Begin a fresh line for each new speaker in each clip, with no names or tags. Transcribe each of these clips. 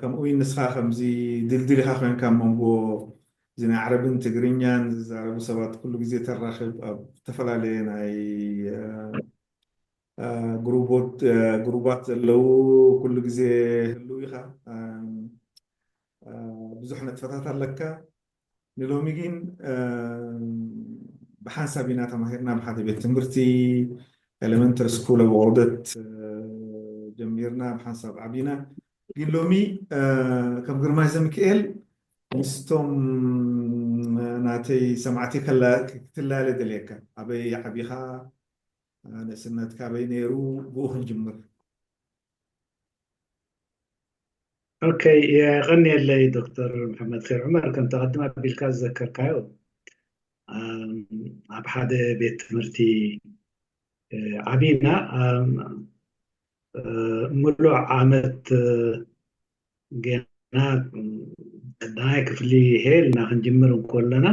ከምኡ ውን ንስኻ ከምዚ ድልድል ኢኻ ኮንካ ኣብ መንጎ እዚ ናይ ዓረብን ትግርኛን ዝዛረቡ ሰባት ኩሉ ግዜ ተራኽብ ኣብ ዝተፈላለየ ናይ ግሩባት ዘለው ኩሉ ግዜ ህልው ኢኻ ብዙሕ ንጥፈታት ኣለካ ንሎሚ ግን ብሓንሳብ ኢና ተማሂርና ኣብ ሓደ ቤት ትምህርቲ ኤለመንተሪ ስኩል ኣብ ኦርደት ጀሚርና ብሓንሳብ ዓቢና ግን ሎሚ ከም ግርማይ ዘሚክኤል ምስቶም ናተይ ሰማዕቲ ክትላለ ደልየካ ኣበይ ዓቢኻ ንእስነትካ ኣበይ ነይሩ ብኡ ክንጅምር
ኦከይ የቐንየለይ ዶክተር መሓመድከር ዑመር ከምቲ ቅድም ኣቢልካ ዝዘከርካዮ ኣብ ሓደ ቤት ትምህርቲ ዓብና ምሉእ ዓመት ጌና ቀዳማይ ክፍሊ ሄልና ክንጅምር እንኮለና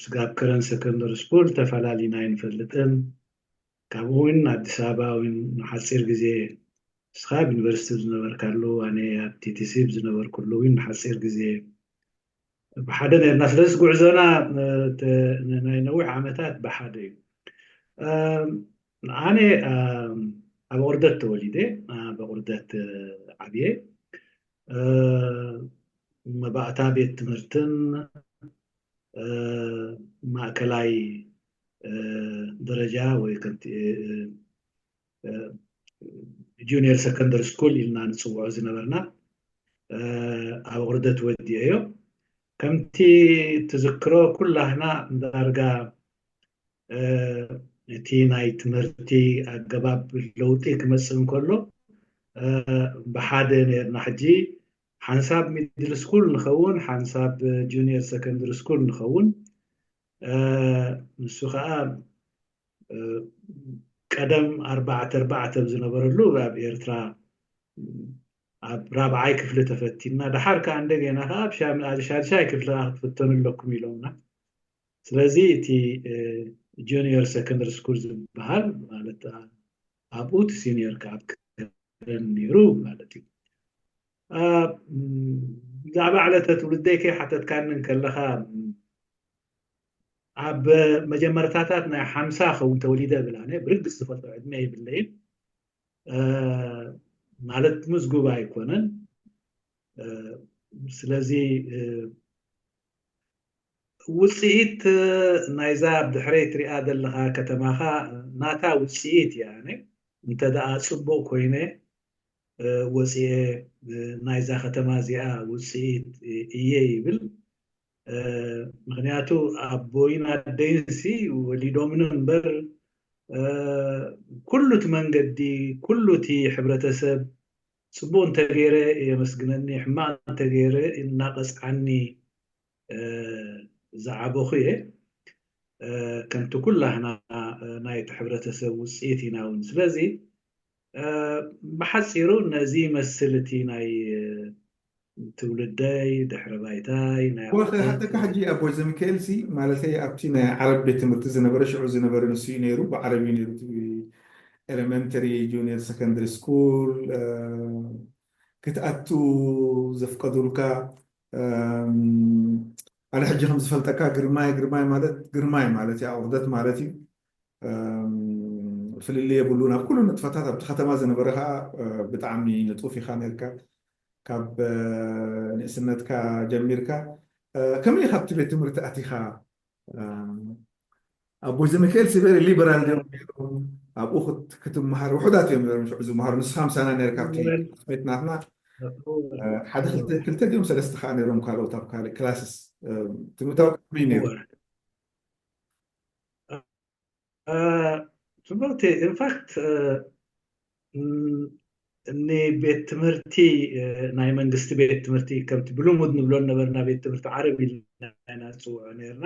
ስጋብ ከረን ሰከንደሪ ስኩል ተፈላሊና ኣይንፈልጥን ካብኡ ውን ኣዲስ ኣበባ ውን ንሓጺር ግዜ ንስኻ ኣብ ዩኒቨርሲቲ ኣብ ዝነበርካሉ ኣነ ኣብ ቲቲሲ ኣብ ዝነበርኩሉ ውን ንሓጺር ግዜ ብሓደ ኔርና ስለዝስ ጉዕዞና ናይ ነዊሕ ዓመታት ብሓደ እዩ ኣነ ኣብ ቁርደት ተወሊደ ኣብ ቁርደት ዓብየ መባእታ ቤት ትምህርትን ማእከላይ ደረጃ ወይ ከምቲ ጁኒየር ሰከንደሪ ስኩል ኢልና ንፅውዖ ዝነበርና ኣብ ውርደት ወዲኦዮ ከምቲ ትዝክሮ ኩላህና ዳርጋ እቲ ናይ ትምህርቲ ኣገባብ ለውጢ ክመፅእ እንከሎ ብሓደ ነርና ሕጂ ሓንሳብ ሚድል ስኩል ንኸውን ሓንሳብ ጁኒየር ሰከንድሪ ስኩል ንኸውን ንሱ ከኣ ቀደም ኣርባዕተ ኣርባዕተ ኣብ ዝነበረሉ ኣብ ኤርትራ ኣብ ራብዓይ ክፍሊ ተፈቲንና ደሓር ከዓ እንደገና ከዓ ኣብ ሻድሻይ ክፍሊ ከዓ ክትፍተኑ ኣለኩም ኢሎምና ስለዚ እቲ ጁኒየር ሰኮንደሪ ስኩል ዝበሃል ማለት ኣብኡ እቲ ሲኒየር ከዓ ኣብ ክረን ነይሩ ማለት እዩ ብዛዕባ ዕለተ ትውልደይ ከይሓተትካኒ እንከለኻ ኣብ መጀመርታታት ናይ ሓምሳ ኸውን ተወሊደ ብል ኣነ ብርግፅ ዝፈልጦ ዕድመ የብለይን ማለት ምዝጉብ ኣይኮነን ስለዚ ውፅኢት ናይዛ ብድሕረይ ትሪኣ ዘለኻ ከተማኻ ናታ ውፅኢት እያ ኣነ እንተደኣ ፅቡቅ ኮይነ ወጺኤ ናይዛ ከተማ እዚኣ ውጽኢት ኢየ ይብል ምኽንያቱ ኣቦይን ኣደይንሲ ወሊዶምኒ እምበር ኩሉ እቲ መንገዲ ኩሉ እቲ ሕብረተሰብ ጽቡቕ እንተገይረ የመስግነኒ ሕማቕ እንተገይረ እናቐጽዓኒ ዝዓበኹ እየ ከምቲ ኩላህና ናይቲ ሕብረተሰብ ውጽኢት ኢና እውን ስለዚ ብሓጺሩ ነዚ ይመስል እቲ ናይ ትውልደይ፣ ድሕረ ባይታይ፣ ናይ ኣቦታት። ክሓተካ ሕጂ
ኣቦይ ዘሚካኤልሲ ማለተይ ኣብቲ ናይ ዓረብ ቤት ትምህርቲ ዝነበረ ሽዑ ዝነበረ ንሱ እዩ ነይሩ ብዓረብ እዩ ነይሩ እቲ ኤለመንተሪ ጁንየር ሰከንደሪ ስኩል ክትኣቱ ዘፍቀዱልካ ኣነ ሕጂ ከም ዝፈልጠካ ግርማይ ግርማይ ማለት ግርማይ ማለት እዩ ኣቁርደት ማለት እዩ ፍልልይ የብሉን ኣብ ኩሉ ንጥፈታት ኣብቲ ከተማ ዝነበረ ከኣ ብጣዕሚ ንጡፍ ኢኻ ኔርካ ካብ ንእስነትካ ጀሚርካ ከመይ ኢኻ ኣብቲ ቤት ትምህርቲ ኣቲኻ ኣቦይ ዘሚካኤል ሲበሪ ሊበራል ድዮም ነይሮም ኣብኡ ክትመሃር ውሑዳት እዮም ነይሮም ሽዑ ዝመሃሩ ንስኻ ምሳና ነርካ ኣብቲ ቤት ናትና ሓደ ክልተ ድዮም ሰለስተ ከዓ ነይሮም ካልኦት ኣብ ካልእ ክላስስ ትምህርታዊ ከመይ ነይሩ
ትምህርቲ ኢንፋክት ንቤት ትምህርቲ ናይ መንግስቲ ቤት ትምህርቲ ከምቲ ብልሙድ ንብሎ ነበርና ቤት ትምህርቲ ዓረብ ኢልና ኢና ንፅውዖ ነርና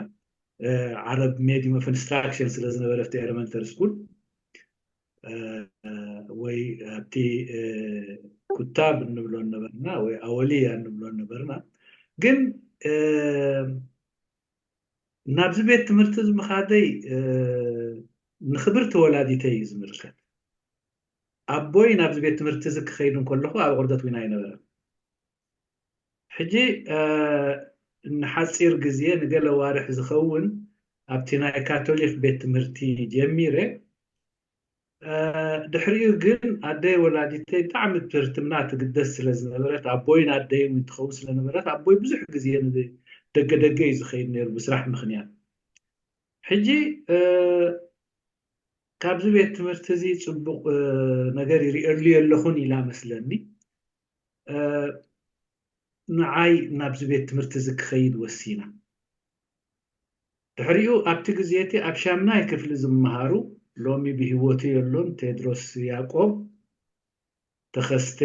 ዓረብ ሜዲም ኦፍ ኢንስትራክሽን ስለ ዝነበረ ኣብቲ ኤለመንተሪ ስኩል ወይ ኣብቲ ኩታብ ንብሎ ነበርና ወይ ኣወልያ ንብሎ ነበርና ግን ናብዚ ቤት ትምህርቲ እዚ ምኻደይ ንኽብርቲ ወላዲተይ እዩ ዝምልከት። ኣቦይ ናብዚ ቤት ትምህርቲ እዚ ክኸይድ እንከለኹ ኣብ ዕርደት ዊን ኣይነበረን። ሕጂ ንሓጺር ግዜ ንገለ ኣዋርሕ ዝኸውን ኣብቲ ናይ ካቶሊክ ቤት ትምህርቲ ጀሚረ ድሕሪኡ ግን ኣደይ ወላዲተይ ብጣዕሚ ብትህርትና ትግደስ ስለ ዝነበረት ኣቦይን ኣደይን እውን ትኸውን ስለ ነበረት ኣቦይ ብዙሕ ግዜ ንደገ ደገ እዩ ዝኸይድ ነይሩ ብስራሕ ምኽንያት ሕጂ ካብዚ ቤት ትምህርቲ እዚ ፅቡቕ ነገር ይሪእሉ የለኹን ኢላ መስለኒ ንዓይ ናብዚ ቤት ትምህርቲ እዚ ክኸይድ ወሲና ድሕሪኡ ኣብቲ ግዜ'ቲ ኣብ ሻምናይ ክፍሊ ዝመሃሩ፣ ሎሚ ብህይወቱ የሎን፣ ቴድሮስ ያቆብ፣ ተኸስተ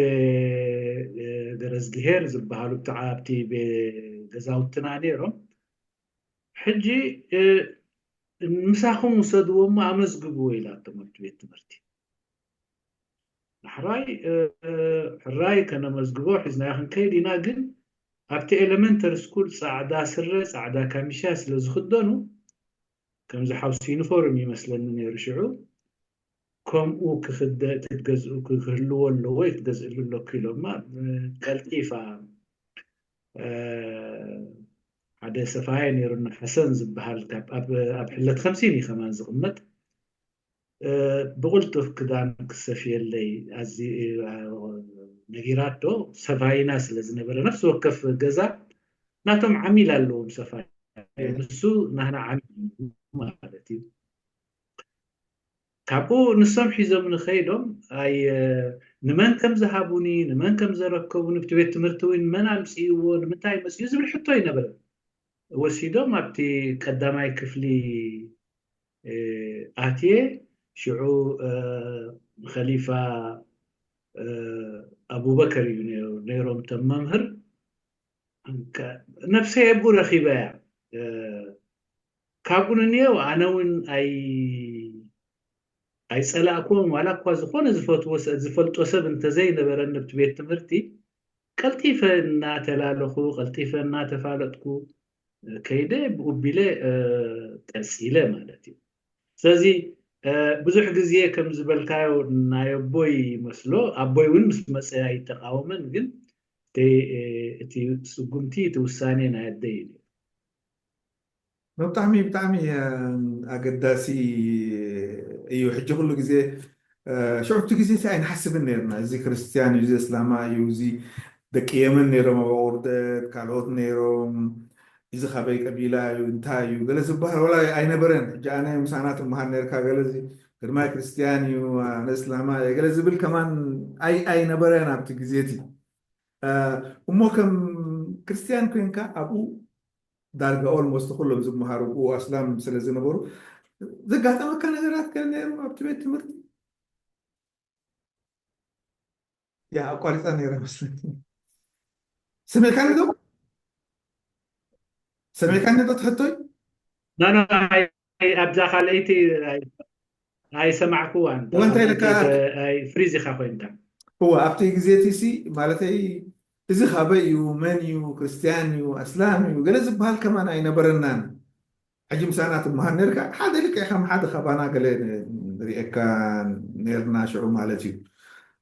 ገረዝግሄር ዝበሃሉ ብተዓ ኣብቲ ገዛውትና ነይሮም። ሕጂ ምሳኹም ውሰድዎ'ሞ ኣመዝግብዎ ኢላቶም ኣብቲ ቤት ትምህርቲ። ሕራይ ሕራይ ከነመዝግቦ ሒዝናዮ ክንከይድ ኢና ግን ኣብቲ ኤለመንተሪ ስኩል ጻዕዳ ስረ ጻዕዳ ካሚሻ ስለ ዝኽደኑ ከምዚ ሓውሲ ዩኒፎርም እዩ መስለኒ ነይሩ ሽዑ ከምኡ ክኽደ ክትገዝኡ ክህልዎ ኣለዎ እዩ ክትገዝእሉ ኣለኩ ኢሎማ ቀልጢፋ ሓደ ሰፋይ ነይሩና ሓሰን ዝበሃል ኣብ ሕለት ከምሲን እዩ ከማን ዝቕመጥ ብቕልጡፍ ክዳን ክሰፍየለይ ነጊራቶ፣ ሰፋይና ስለ ዝነበረ፣ ነፍሲ ወከፍ ገዛ ናቶም ዓሚል ኣለዎም ሰፋይ፣ ንሱ ናህና ዓሚል ማለት እዩ። ካብኡ ንሶም ሒዞምኒ ከይዶም ኣይ ንመን ከም ዝሃቡኒ ንመን ከም ዘረከቡኒ ብቲ ቤት ትምህርቲ እውን መን ኣምፅእዎ ንምንታይ መፅኡ ዝብል ሕቶ ኣይነበረን። ወሲዶም ኣብቲ ቀዳማይ ክፍሊ ኣትየ ሽዑ ኸሊፋ ኣቡበከር እዩ ነይሩ ነይሮም እቶም መምህር ነብሰይ ኣብኡ ረኺበያ ካብኡ ንንየው ኣነ እውን ኣይፀላእኩዎም ዋላ እኳ ዝኾነ ዝፈትዎ ዝፈልጦ ሰብ እንተዘይነበረ ንብቲ ቤት ትምህርቲ ቀልጢፈ እናተላለኹ ቀልጢፈ እናተፋለጥኩ ከይደ ብኡ ቢለ ቀጺለ ማለት እዩ ስለዚ ብዙሕ ግዜ ከም ዝበልካዮ ናይ ኣቦይ ይመስሎ ኣቦይ እውን ምስ መፀ ኣይተቃወመን ግን እቲ ስጉምቲ እቲ ውሳኔ ናይ ኣደይ እዩ ብጣዕሚ
ብጣዕሚ ኣገዳሲ እዩ ሕጂ ኩሉ ግዜ ሽዑ እቲ ግዜ እቲ ኣይንሓስብን ነይርና እዚ ክርስትያን እዩ እዚ ኣስላማይ እዩ እዚ ደቂ የመን ነይሮም ኣብ ኣቁርደት ካልኦት ነይሮም እዚ ካበይ ቀቢላ እዩ እንታይ እዩ ገለ ዝበሃል ዋላ ኣይነበረን ሕጂ ኣነ ምሳና ትመሃር ነርካ ገለ እዚ ግርማይ ክርስትያን እዩ ኣነ እስላማይ ገለ ዝብል ከማን ኣይ ኣይነበረን ኣብቲ ግዜ እቲ እሞ ከም ክርስትያን ኮንካ ኣብኡ ዳርጋ ኦልሞስት ኩሎም ዝመሃሩ ብኡ ኣስላም ስለ ዝነበሩ ዘጋጠመካ ነገራት ከ ነይሩ ኣብቲ ቤት ትምህርቲ ያ ኣቋሪፃ ነይረ መስለኒ ሰሚዕካኒ ዶ ሰሚዕካኒ ዶ ትሕቶይ ኖ ኖ
ኣብዛ ካልኣይቲ ኣይሰማዕኩዋን እንታይ ኢልካ ፍሪዝ ኢኻ ኮይንካ እወ ኣብቲ
ግዜ እቲ ሲ ማለተይ እዚ ካበይ እዩ መን እዩ ክርስትያን እዩ ኣስላም እዩ ገለ ዝበሃል ከማን ኣይነበረናን ሕጂ ምሳና ትመሃር ነርካ ሓደ ልክዕ ከም ሓደ ካባና ገለ ንሪኤካ ነርና ሽዑ ማለት እዩ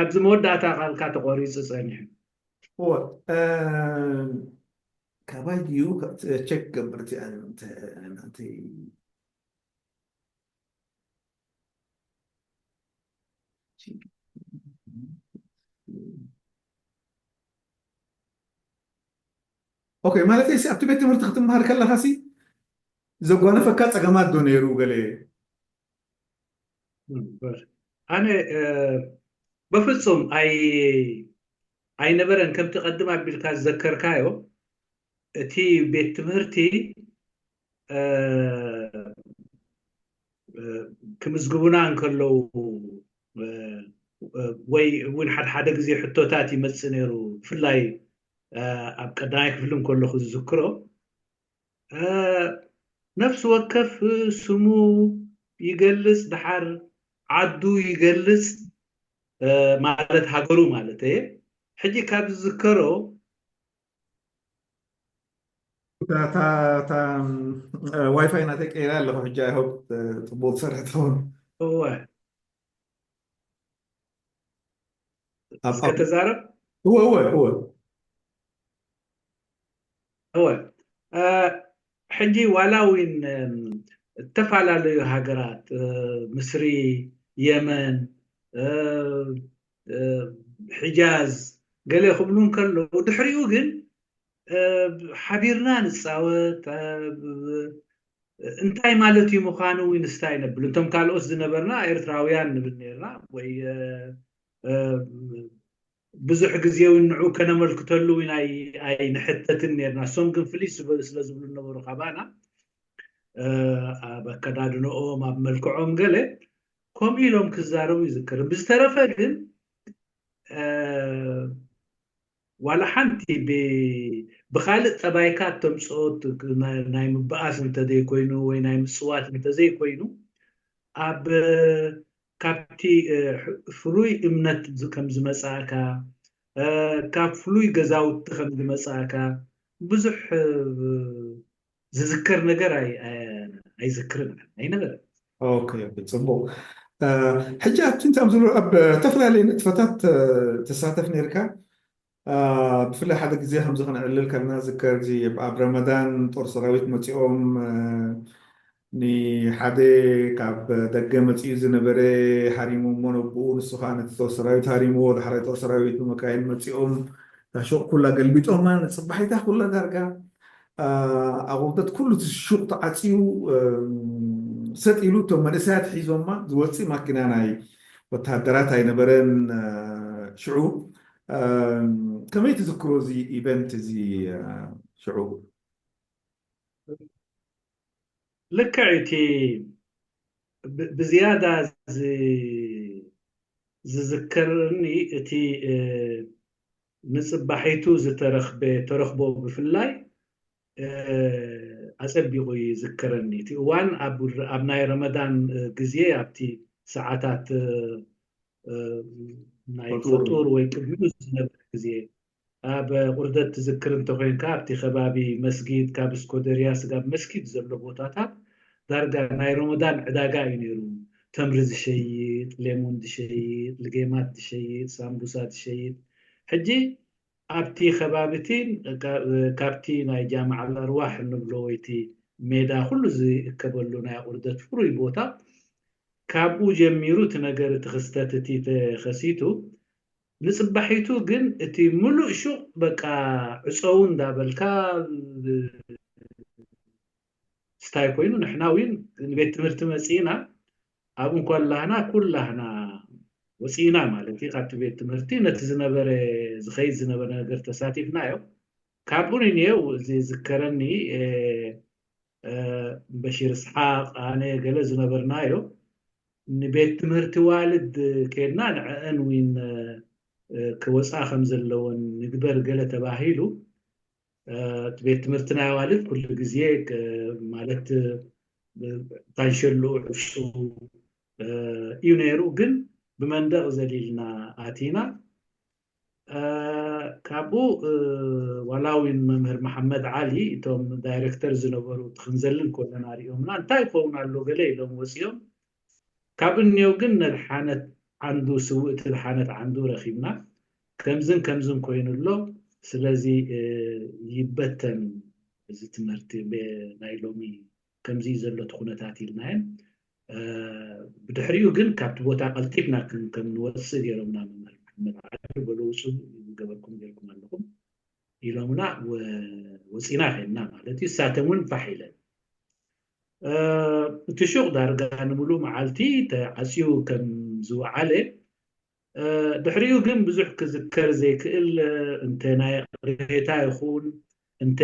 ኣብዚ መወዳእታ ቃልካ ተቖሪፁ ፀኒሑ። እወ
ካባይ ድዩ ቸክ ገብር እቲኣ ናተይ ኦኬ ማለተይ ሲ ኣብቲ ቤት ትምህርቲ ክትምሃር ከለካ ሲ ዘጓነፈካ ፀገማት ዶ ነይሩ ገለ
ኣነ በፍፁም ኣይነበረን ከምቲ ቀድም ኣቢልካ ዝዘከርካዮ እቲ ቤት ትምህርቲ ክምዝግቡና እንከለዉ ወይ እውን ሓደሓደ ግዜ ሕቶታት ይመፅእ ነይሩ ብፍላይ ኣብ ቀዳማይ ክፍሊ እንከለኹ ዝዝክሮ ነፍሲ ወከፍ ስሙ ይገልጽ ድሓር ዓዱ ይገልጽ ማለት ሃገሩ ማለት እየ ሕጂ ካብ ዝዝከሮ
ዋይፋይ ናተይ ቀይራ ኣለኹ ሕጂ ኣይሆፕ ፅቡቅ ዝሰርሐ ትኸውን እወ
እስከ ተዛረብ
እወ
እወ እወ እወ ሕጂ ዋላ እውን ዝተፈላለዩ ሃገራት ምስሪ የመን ሕጃዝ ገለ ክብሉ እንከለዉ ድሕሪኡ ግን ሓቢርና ንፃወት እንታይ ማለት እዩ ምዃኑ ዊንስታይ ነብል እንቶም ካልኦት ዝነበርና ኤርትራውያን ንብል ነርና ወይ ብዙሕ ግዜ እውን ንዑ ከነመልክተሉ እውን ኣይንሕተትን ነርና እሶም ግን ፍልይ ስለ ዝብሉ ነበሩ ካባና ኣብ ኣከዳድንኦም ኣብ መልክዖም ገለ ከምኡ ኢሎም ክዛረቡ ይዝክርም ብዝተረፈ ግን ዋላ ሓንቲ ብ ብኻልእ ጠባይካ እተምጽኦ ናይ ምባኣስ እንተዘይኮይኑ ወይ ናይ ምጽዋት እንተዘይኮይኑ ኣብ ካብቲ ፍሉይ እምነት ከም ዝመጻእካ ካብ ፍሉይ ገዛውቲ ከም ዝመጻእካ ብዙሕ ዝዝከር ነገር ኣይዝክርን ኣይነበረን።
ፅቡቕ ሕጂ ኣብቲ እንታይ ዝብሎ ኣብ ዝተፈላለየ ንጥፈታት ተሳተፍ ነርካ ብፍላይ ሓደ ግዜ ከምዚ ክንዕልል ከለና ዝከር እዚ ኣብ ረመዳን ጦር ሰራዊት መፂኦም ንሓደ ካብ ደገ መፂኡ ዝነበረ ሃሪሙ እሞ ነብኡ ንሱ ከዓ ነቲ ጦር ሰራዊት ሃሪምዎ ዳሕራይ ጦር ሰራዊት ብመካይን መፂኦም እታ ሹቕ ኩላ ገልቢጦማ ንፅባሒታ ኩላ ዳርጋ ኣቁንተት ኩሉ እቲ ሹቅ ተዓጽዩ ሰጥ ኢሉ እቶም መንእሰያት ሒዞማ ዝወጽእ ማኪና ናይ ወተሃደራት ኣይነበረን ሽዑ ከመይ ትዝክሮ እዚ ኢቨንት እዚ ሽዑ?
ልክዕ እዩ እቲ ብዝያዳ ዝዝክርኒ እቲ ንጽባሒቱ ዝተረኽበ ተረኽቦ ብፍላይ ኣጸቢቑ ይዝከረኒ። እቲ እዋን ኣብ ናይ ረመዳን ግዜ ኣብቲ ሰዓታት ናይ ፈጡር ወይ ቅድሚኡ ዝነበረ ግዜ ኣብ ቁርደት ትዝክር እንተኾይንካ ኣብቲ ከባቢ መስጊድ ካብ እስኮደርያ ስጋብ መስጊድ ዘሎ ቦታታት ዳርጋ ናይ ሮሞዳን ዕዳጋ እዩ ነይሩ ተምሪ ዝሸይጥ ሌሙን ዝሸይጥ ልጌማት ዝሸይጥ ሳምቡሳ ዝሸይጥ ሕጂ ኣብቲ ከባቢ እቲ ካብቲ ናይ ጃምዓ ኣልኣርዋሕ እንብሎ ወይቲ ሜዳ ኩሉ ዝእከበሉ ናይ ኣቁርደት ፍሩይ ቦታ ካብኡ ጀሚሩ እቲ ነገር እቲ ክስተት እቲ ተኸሲቱ ንጽባሒቱ ግን እቲ ምሉእ ሹቅ በቃ ዕጸዉ እንዳበልካ ስታይ ኮይኑ ንሕና ዊን ንቤት ትምህርቲ መጺእና ኣብ እንኮላህና ኩላህና ወጺእና ማለት እዩ ካብቲ ቤት ትምህርቲ ነቲ ዝነበረ ዝኸይድ ዝነበረ ነገር ተሳቲፍናዮ ካብኡ ንንየው እዚ ዝከረኒ በሺር ስሓቅ ኣነ ገለ ዝነበርናዮ ንቤት ትምህርቲ ዋልድ ከድና ንዕአን ዊን ክወፃ ከም ዘለወን ንግበር ገለ ተባሂሉ እቲ ቤት ትምህርቲ ናይ ኣዋልድ ኩሉ ግዜ ማለት ታንሸሉ ዕፍሹ እዩ ነይሩ ግን ብመንደቕ ዘሊልና ኣቲና ካብኡ ዋላ እውን መምህር መሓመድ ዓሊ እቶም ዳይረክተር ዝነበሩ ትክንዘልን ኮለና ሪኦምና እንታይ ይኸውን ኣሎ ገለ ኢሎም ወፂኦም ካብ እንዮ ግን ነድሓነት ዓንዱ ስውእቲ ኣድሓነት ዓንዱ ረኪብና ከምዝን ከምዝን ኮይኑ ኣሎ ስለዚ ይበተን እዚ ትምህርቲ ናይ ሎሚ ከምዚ እዩ ዘሎ እቲ ኩነታት ኢልናዬም ብድሕሪኡ ግን ካብቲ ቦታ ቀልጢፍና ከም ንወጽእ ገሮምና መምህር መሓመድ ዓዱ በሉ ውጹ ዝገበርኩም ገርኩም ኣለኹም ኢሎምና ወጺና ከድና ማለት እዩ እሳተን ውን ፋሕ ኢለን እቲ ሹቕ ዳርጋ ንምሉእ መዓልቲ ተዓጽዩ ከም ዝወዓለ፣ ድሕሪኡ ግን ብዙሕ ክዝከር ዘይክእል እንተ ናይ ይቕሬታ ይኹን እንተ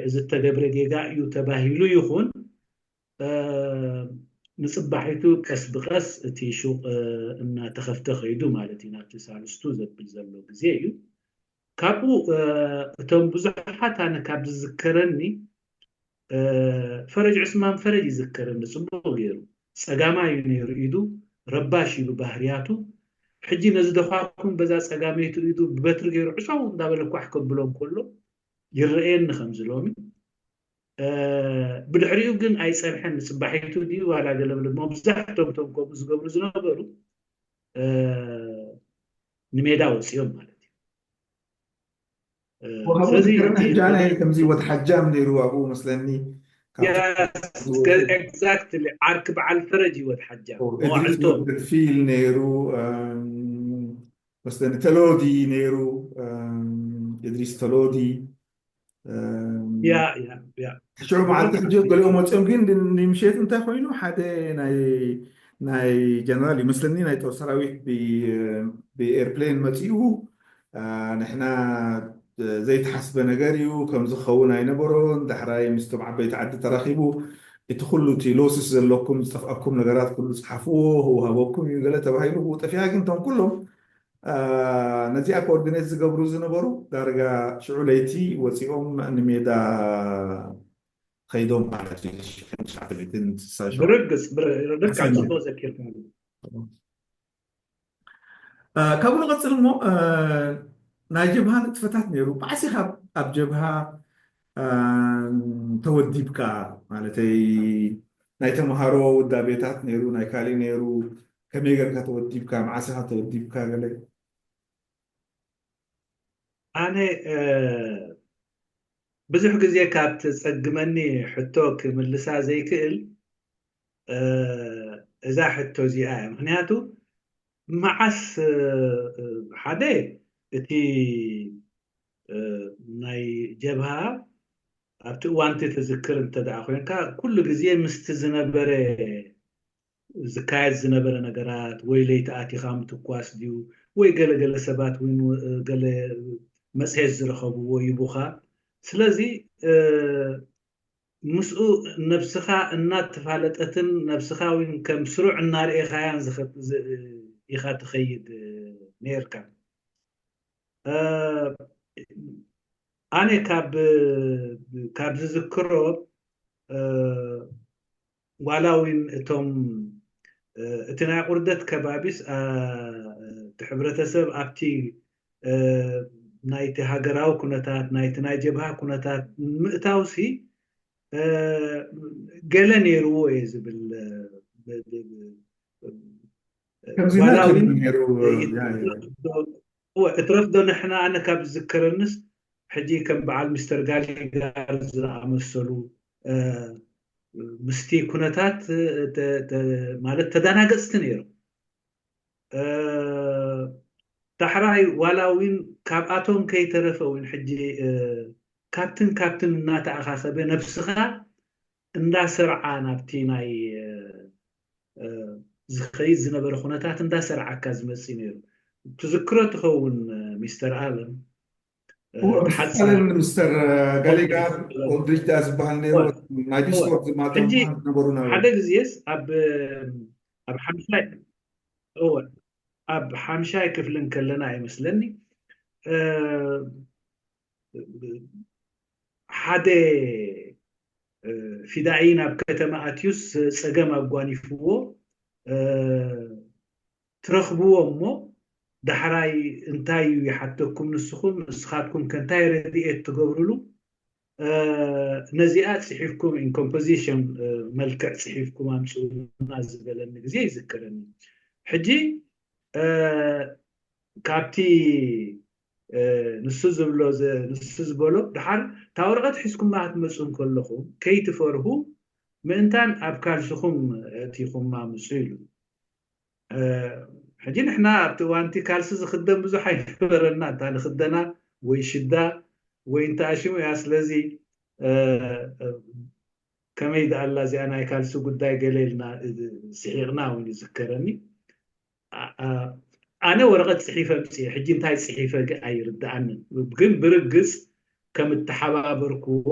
እዚ እተገብረ ጌጋ እዩ ተባሂሉ ይኹን ንጽባሒቱ ቀስ ብቐስ እቲ ሹቕ እናተኸፍተ ከይዱ ማለት እዩ። ናብቲ ሳልስቱ ዘብል ዘሎ ግዜ እዩ። ካብኡ እቶም ብዙሓት ኣነ ካብ ዝዝከረኒ ፈረጅ ዑስማን ፈረጅ ይዝከረኒ ጽቡቅ ጌሩ ጸጋማይ እዩ ኔሩ ኢዱ ረባሽ እዩ ብባህርያቱ ሕጂ ነዚ ደዃኩም በዛ ጸጋመይቱ ኢዱ ብበትሪ ጌሩ ዕጸዉ እንዳበለ ኳሕ ከብሎ እንከሎ ይረኣየኒ ከምዚ ሎሚ ብድሕሪኡ ግን ኣይጸንሐን ንጽባሒቱ ድዩ ዋላ ገለ ብለ መብዛሕቶም እቶም ከምኡ ዝገብሩ ዝነበሩ ንሜዳ ወጺኦም ማለት እዩ
ወሃቡ ዝክርን ሕጃ ናይ ከምዚ ወድ ሓጃም ነይሩ ኣብኡ መስለኒ ኤግዛክትሊ
ዓርኪ በዓል ፈረጅ እዩ ወድ ሓጃም መዋዕልቶ ፊል
ነይሩ መስለኒ ተሎዲ ነይሩ እድሪስ ተሎዲ ያ
ያ ያ ሽዑ መዓልቲ ሕጂ
ገሊኦም ወፂኦም ግን ንምሸት እንታይ ኮይኑ ሓደ ናይ ናይ ጀነራል ይመስለኒ ናይ ጦር ሰራዊት ብኤርፕሌን መፂኡ ንሕና ዘይተሓስበ ነገር እዩ ከምዚ ክኸውን ኣይነበሮን ዳሕራይ ምስቶም ዓበይቲ ዓዲ ተራኺቡ እቲ ኩሉ እቲ ሎስስ ዘለኩም ዝጠፍኣኩም ነገራት ኩሉ ጽሓፍዎ ህውሃበኩም እዩ ገለ ተባሂሉ ብኡ ጠፊኣ ግን እቶም ኩሎም ነዚኣ ኮኦርዲኔት ዝገብሩ ዝነበሩ ዳርጋ ሽዑ ለይቲ ወጺኦም ንሜዳ ኸይዶም ማለት እዩ ሽሕን ትሽዓተ ሚእትን ስሳ ሸውዓተ ብርግጽ
ብርግጽ ጽቡቅ ዘኪርካኒ
ካብኡ ንቐጽል እሞ ናይ ጀብሃ ንጥፈታት ነይሩ ባዕሲኻ ኣብ ጀብሃ ተወዲብካ ማለተይ ናይ ተምሃሮ ውዳቤታት ነይሩ ናይ ካሊእ ነይሩ ከመይ ጌርካ ተወዲብካ መዓስኻ ተወዲብካ ገለ
ኣነ ብዙሕ ግዜ ካብ ተጸግመኒ ሕቶ ክምልሳ ዘይክእል እዛ ሕቶ እዚኣ እያ። ምክንያቱ መዓስ ሓደ እቲ ናይ ጀብሃ ኣብቲ እዋንቲ ትዝክር እንተ ኮይንካ ኩሉ ግዜ ምስቲ ዝነበረ ዝካየድ ዝነበረ ነገራት ወይ ለይቲ ኣቲኻ ምትኳስ ድዩ ወይ ገለ ገለ ሰባት ውን ገለ መጽሔት ዝረኸብዎ ይቡኻ ስለዚ ምስኡ ነብስኻ እናተፋለጠትን ነብስኻ ውን ከም ስሩዕ እናርኤኻያን ኢኻ ትኸይድ ነርካ ኣነ ካብ ካብ ዝዝክሮ ዋላ ውን እቶም እቲ ናይ ቁርደት ከባቢስ እቲ ሕብረተሰብ ኣብቲ ናይቲ ሃገራዊ ኩነታት ናይቲ ናይ ጀብሃ ኩነታት ንምእታውሲ ገለ ነይርዎ እየ ዝብል ዋላ ውን እትረፍ ዶ ንሕና ኣነ ካብ ዝዝከረንስ ሕጂ ከም በዓል ሚስተር ጋሊጋር ዝኣመሰሉ ምስቲ ኩነታት ማለት ተዳናገፅቲ ነይሮም ዳሕራይ ዋላ እውን ካብኣቶም ከይተረፈ እውን ሕጂ ካብትን ካብትን እናተኣኻኸበ ነብስኻ እንዳሰርዓ ናብቲ ናይ ዝኸይድ ዝነበረ ኩነታት እንዳሰርዓካ ዝመፅእ ነይሩ ትዝክሮ ትኸውን ሚስተር ኣለም
ሓፂር ምስተር ጋሊጋር ኦልድሪጅዳ ዝበሃል ነይሩ ናይ ዲስኮርድ ዝማቶም ነበሩ ሓደ ግዜስ
ኣብ ኣብ ሓምሻይ እወ ኣብ ሓምሻይ ክፍሊ ከለና ይመስለኒ ሓደ ፊዳኢ ናብ ከተማ ኣትዩስ ፀገም ኣጓኒፍዎ ትረኽብዎ እሞ ዳሕራይ እንታይ እዩ ይሓተኩም ንስኹም ንስኻትኩም ከ እንታይ ረዲኤት ትገብርሉ ነዚኣ ጽሒፍኩም ኢን ኮምፖዚሽን መልክዕ ጽሒፍኩም ኣምጽኡልና ዝበለኒ ግዜ ይዝክረኒ ሕጂ ካብቲ ንሱ ዝብሎ ንሱ ዝበሎ ድሓር እታ ወረቐት ሒዝኩማ ክትመጹ እንከለኹም ከይትፈርሁ ምእንታን ኣብ ካልስኹም ኣእቲኹማ ምጹ ኢሉ ሕጂ ንሕና ኣብቲ እዋንቲ ካልሲ ዝኽደን ብዙሕ ኣይነበረና እንታ ንኽደና ወይ ሽዳ ወይ እንተ ኣሽሙ እያ ስለዚ ከመይ ደኣላ እዚኣ ናይ ካልሲ ጉዳይ ገለ ኢልና ስሒቕና እውን ይዝከረኒ ኣነ ወረቐት ፅሒፈ ምፅየ ሕጂ እንታይ ፅሒፈ ኣይርድኣንን ግን ብርግፅ ከም እተሓባበርክዎ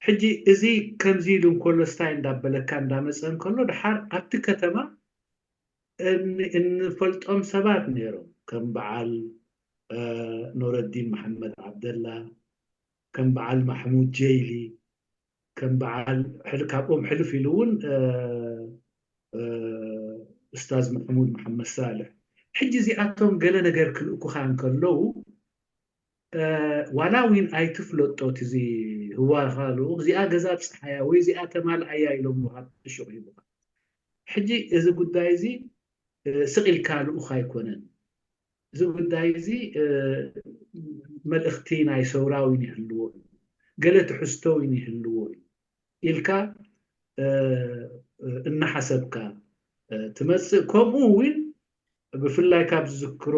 ሕጂ እዚ ከምዚ ኢሉ እንከሎ ስታይ እንዳበለካ እንዳመጸ እንከሎ ድሓር ኣብቲ ከተማ እንፈልጦም ሰባት ነይሮም ከም በዓል ኑረዲን መሓመድ ዓብደላ ከም በዓል ማሕሙድ ጀይሊ ከም በዓል ካብኦም ሕልፍ ኢሉ እውን ኡስታዝ ማሕሙድ መሓመድ ሳልሕ ሕጂ እዚኣቶም ገለ ነገር ክልእኩኻ እንከለዉ ዋላ ዊን ኣይትፍለጦ እቲ እዚ ህዋካ ልኡክ እዚኣ ገዛ ኣብጽሓያ ወይ እዚኣ ተማልኣያ ኢሎምካ እሹቅ ሂቡካ ሕጂ እዚ ጉዳይ እዚ ስቅ ኢልካ ልኡክ ኣይኮነን እዚ ጉዳይ እዚ መልእክቲ ናይ ሰውራ ዊን ይህልዎ እዩ ገለ ትሕዝቶ ዊን ይህልዎ እዩ ኢልካ እናሓሰብካ ትመጽእ ከምኡ ዊን ብፍላይ ካብ ዝዝክሮ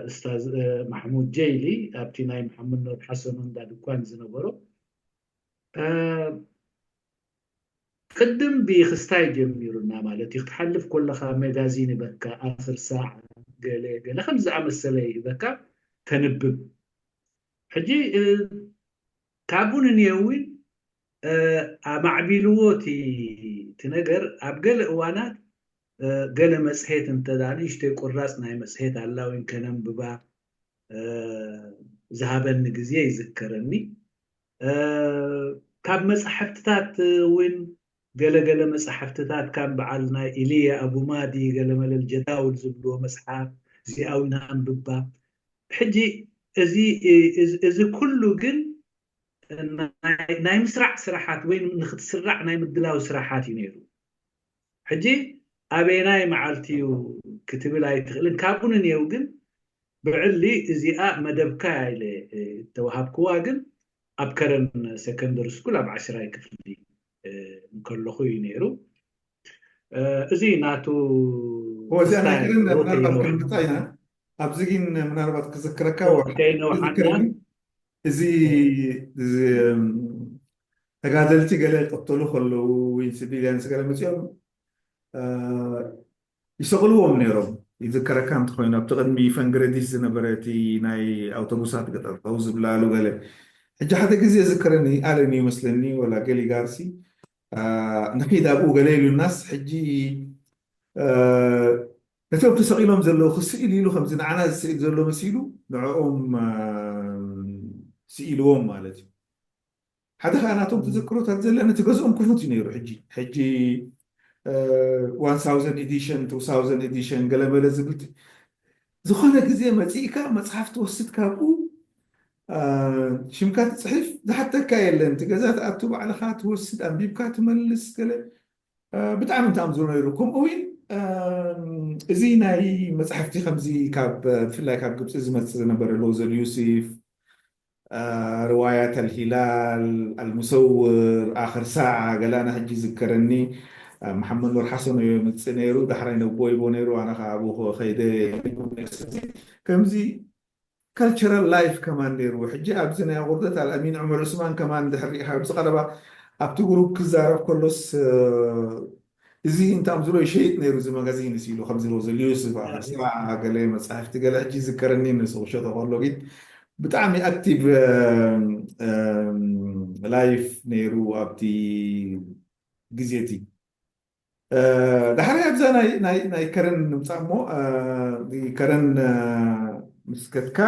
እስታዝ ማሕሙድ ጀይሊ ኣብቲ ናይ መሓመድ ኑር ሓሰኑ እንዳ ድኳን ዝነበሮ ቅድም ብይክስታይ ጀሚሩና ማለት እዩ ክትሓልፍ ኮለኻ መጋዚን ይበካ ኣኽር ሳዕ ገለ ገለ ከም ዝኣመሰለ ይበካ ተንብብ ሕጂ ካብኡ ንንየዊን ኣማዕቢልዎ እቲ እቲ ነገር ኣብ ገለ እዋናት ገለ መጽሔት እንተ ንእሽቶይ ቁራጽ ናይ መጽሔት ኣላዊን ከነንብባ ዝሃበኒ ግዜ ይዝከረኒ ካብ መጻሕፍትታት እውን ገለ ገለ መጻሕፍትታት ካም በዓል ናይ ኢልያ ኣቡማዲ ገለ መለል ጀዳውል ዝብልዎ መጽሓፍ እዚኣ እውን ኣንብባ ሕጂ እዚ እዚ ኩሉ ግን ናይ ምስራዕ ስራሓት ወይ ንክትስራዕ ናይ ምድላው ስራሓት እዩ ነይሩ። ሕጂ ኣበየናይ መዓልቲ እዩ ክትብል ኣይትኽእልን። ካብኡ ንኔው ግን ብዕሊ እዚኣ መደብካ እያ ኢለ እተወሃብክዋ ግን ኣብ ከረን ሰከንደሪ ስኩል ኣብ ዓሽራይ ክፍሊ እንከለኹ እዩ ነይሩ እዚ ናቱ
ምርታይና ኣብዚ ግን ምናልባት ክዝክረካ እዚ ተጋደልቲ ገለ ይቀተሉ ከለዉ ወይ ሲቪልያን ገለ መፅኦም ይሰቕልዎም ነይሮም። ይዝከረካ እንተኾይኑ ኣብቲ ቅድሚ ፈንግረዲስ ዝነበረ እቲ ናይ ኣውቶቡሳት ገጠርጠው ዝብላሉ ገለ ሕጂ ሓደ ግዜ ይዝከረኒ ኣለን እዩ መስለኒ ወላ ገሊጋርሲ ንኺድ ኣብኡ ገለ ኢሉናስ ሕጂ ነቶም ተሰቒሎም ዘለዉ ክስእል ኢሉ ከምዚ ንዓና ዝስእል ዘሎ መሲሉ ንዕኦም ስኢልዎም ማለት እዩ። ሓደ ከኣ ናቶም ትዝክሮታት ዘለን እቲ ገዝኦም ክፉት እዩ ነይሩ ሕጂ ሕጂ ዋን ሳውዘንድ ኤዲሽን ቱ ሳውዘንድ ኤዲሽን ገለመለ ዝብል ዝኾነ ግዜ መጺእካ መጽሓፍ ትወስድ ካብኡ ሽምካ ትጽሕፍ ዝሓተካ የለን እቲ ገዛ ትኣቱ ባዕልኻ ትወስድ ኣንቢብካ ትመልስ ገለ ብጣዕሚ እንተ ኣምዝሮ ነይሩ ከምኡ እውን እዚ ናይ መፅሓፍቲ ከምዚ ካብ ብፍላይ ካብ ግብፂ ዝመፅእ ዝነበረ ሎዘል ዩሲፍ ርዋያት ኣልሂላል ኣልሙሰውር ኣኽር ሳዓ ገለ ኣነ ሕጂ ይዝከረኒ ኣብ መሓመድ ኑር ሓሰን ኦዮ የምጽእ ነይሩ ዳሕራይ ነቦይቦ ነይሩ ኣነ ከኣ ኣብኡ ከይደ ስለዚ ከምዚ ካልቸራል ላይፍ ከማን ነይርዎ ሕጂ ኣብዚ ናይ ኣቑርደት ኣልኣሚን ዑመር ዑስማን ከማን ድሕር ሪኢኻ ኣብዚ ቀረባ ኣብቲ ግሩፕ ክዛረብ ከሎስ እዚ እንታ ምስሎ ይሸይጥ ነይሩ እዚ መጋዚንስ ኢሉ ከምዚ ሎዘ ሊዩስ ባላሳ ገለ መጻሕፍቲ ገለ ሕጂ ይዝከረኒ ንሱ ክሸጦ ከሎ ግን ብጣዕሚ ኣክቲቭ ላይፍ ነይሩ ኣብቲ ግዜ እቲ ዳሕራይ ኣብዛ ናይ ከረን ንምጻእ እሞ ከረን ምስ ከድካ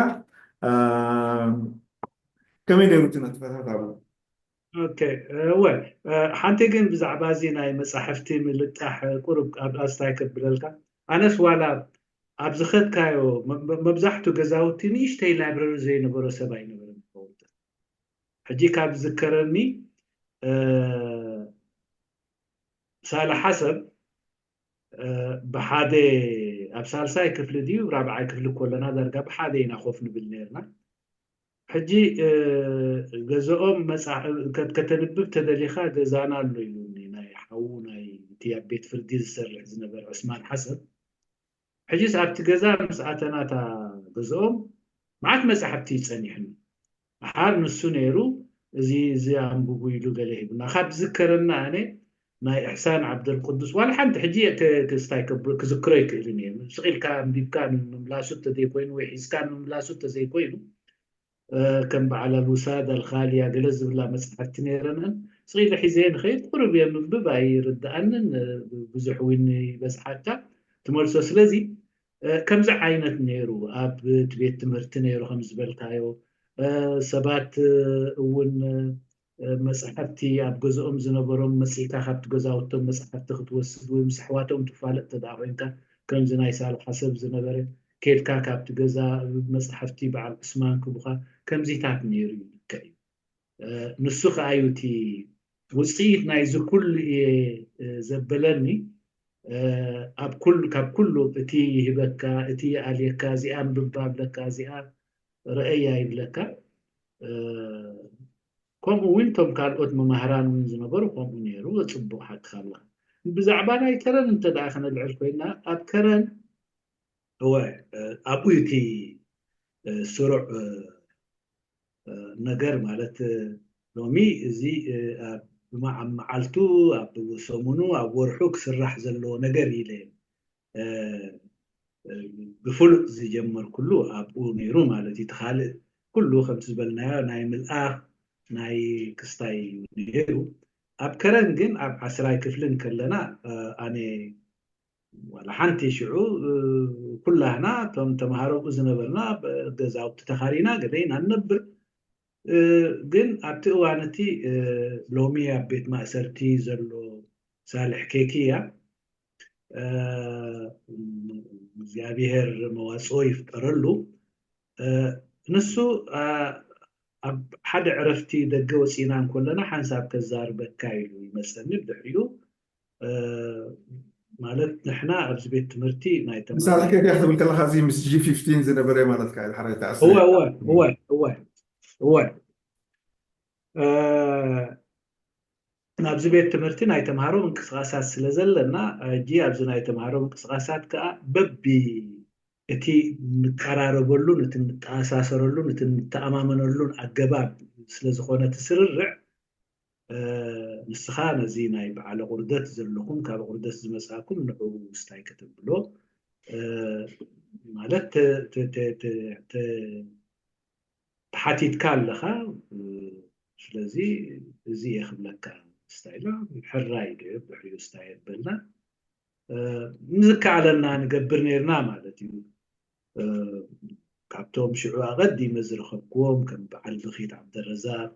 ከመይ ነይሩ እቲ ነጥበታት ኣብኡ
እወ ሓንቲ ግን ብዛዕባ እዚ ናይ መፃሕፍቲ ምልጣሕ ቁሩብ ኣስታይ ከብለልካ ኣነስ ዋላ ኣብ ዝኸድካዮ መብዛሕቱ ገዛውቲ ንእሽተይ ላይብረሪ ዘይነበሮ ሰብ ኣይነበረን ክኸውን ይኽእል ሕጂ ካብ ዝዝከረኒ ሳልሓ ሰብ ብሓደ ኣብ ሳልሳይ ክፍሊ ድዩ ራብዓይ ክፍሊ ኮለና ዳርጋ ብሓደ ኢና ኮፍ ንብል ነርና ሕጂ ገዘኦም መጻ ከተንብብ ተደሊኻ ገዛና ኣሎ ኢሉኒ ናይ ሓዉ ናይ እቲ ኣብ ቤት ፍርዲ ዝሰርሕ ዝነበረ ዑስማን ሓሰን ሕጂስ ኣብቲ ገዛ ምስ ኣተና እታ ገዘኦም መዓት መጻሕፍቲ እዩ ጸኒሑና ደሓር ንሱ ነይሩ እዚ እዚ ኣንብቡ ኢሉ ገለ ሂቡና ካብ ዝዝከረና ኣነ ናይ እሕሳን ዓብደልቁዱስ ዋላ ሓንቲ ሕጂ ክስታይ ክዝክሮ ኣይክእልን እየ ስቅ ኢልካ ኣንቢብካ ንምምላሱ ተዘይ ኮይኑ ወይ ሒዝካ ንምምላሱ ተዘይ ኮይኑ ከም በዓል ኣልውሳድ ኣልኻልያ ገለ ዝብላ መጽሓፍቲ ነይረናን ስቅ ኢለ ሒዘየ ንኸይድ ቁሩብ እየ ምንብብ ኣይርድኣንን ብዙሕ እውን ይበዝሓካ ትመልሶ ስለዚ ከምዚ ዓይነት ነይሩ ኣብ ቤት ትምህርቲ ነይሩ ከም ዝበልካዮ ሰባት እውን መጻሕፍቲ ኣብ ገዝኦም ዝነበሮም መጺእካ ካብቲ ገዛውቶም መጻሕፍቲ ክትወስድ ወይ ምስ ኣሕዋቶም ትፋለጥ እንተድኣ ኮይንካ ከምዚ ናይ ሳልሓ ሰብ ዝነበረ ኬድካ ካብቲ ገዛ መጻሕፍቲ በዓል ዑስማን ክቡካ ከምዚታት ነይሩ እዩ ልክዕ እዩ ንሱ ከኣ እዩ እቲ ውጽኢት ናይዚ ኩሉ እየ ዘበለኒ ኣብ ኩሉ ካብ ኩሉ እቲ ይህበካ እቲ ይኣልየካ እዚኣ ኣንብባ ኣለካ እዚኣ ረኤያ ይብለካ ከምኡ ውን ቶም ካልኦት መማህራን ውን ዝነበሩ ከምኡ ነይሩ ጽቡቅ ሓቅካ ኣለካ ብዛዕባ ናይ ከረን እንተ ከነልዕል ኮይና ኣብ ከረን እወ ኣብኡ እዩ እቲ ስሩዕ ነገር ማለት ሎሚ እዚ ኣብ መዓልቱ ኣብ ሰሙኑ ኣብ ወርሑ ክስራሕ ዘለዎ ነገር ኢለ ብፍሉጥ ዝጀመርኩሉ ኣብኡ ነይሩ ማለት እዩ እቲ ካልእ ኩሉ ከምቲ ዝበልናዮ ናይ ምልኣኽ ናይ ክስታይ እዩ ነይሩ ኣብ ከረን ግን ኣብ ዓስራይ ክፍሊ ከለና ኣነ ዋላ ሓንቲ ሽዑ ኩላህና እቶም ተምሃሮ ኣብኡ ዝነበርና ገዛውቲ ተኻሪና ገለ ኢና ንነብር ግን ኣብቲ እዋን እቲ ሎሚ ኣብ ቤት ማእሰርቲ ዘሎ ሳልሕ ኬኪ እያ እግዚኣብሔር መዋፅኦ ይፍጠረሉ ንሱ ኣብ ሓደ ዕረፍቲ ደገ ወፂና እንኮለና ሓንሳብ ከዛርበካ ኢሉ ይመፀኒ ብድሕሪኡ ማለት ንሕና ኣብዚ ቤት ትምህርቲ ናይ ምሳሌ ከይደ ክትብል
ከለካ እዚ ምስ ጂ ፊፍቲን ዝነበረ ማለት ካ ሓራይ ተዓስ እወ
እወ እወ እወ እወ ኣብዚ ቤት ትምህርቲ ናይ ተምሃሮ ምንቅስቓሳት ስለ ዘለና፣ ሕጂ ኣብዚ ናይ ተምሃሮ ምንቅስቓሳት ከኣ በቢ እቲ እንቀራረበሉን እቲ እንተኣሳሰረሉን እቲ እንተኣማመነሉን ኣገባብ ስለ ዝኾነ እቲ ስርርዕ፣ ንስኻ ነዚ ናይ በዓለ ቁርደት ዘለኹም ካብ ቁርደት ዝመጻእኩም ንዕኡ ስታይ ከተብሎ ማለት ተሓቲትካ ኣለኻ ስለዚ እዚ እየ ክብለካ ስታይላ ሕራይ ዶ ብሕሪኡ ስታይ በልና ንዝከኣለና ንገብር ነርና ማለት እዩ ካብቶም ሽዑ ኣቐዲመ ዝረኸብክዎም ከም በዓል ብኺት ዓብደረዛቅ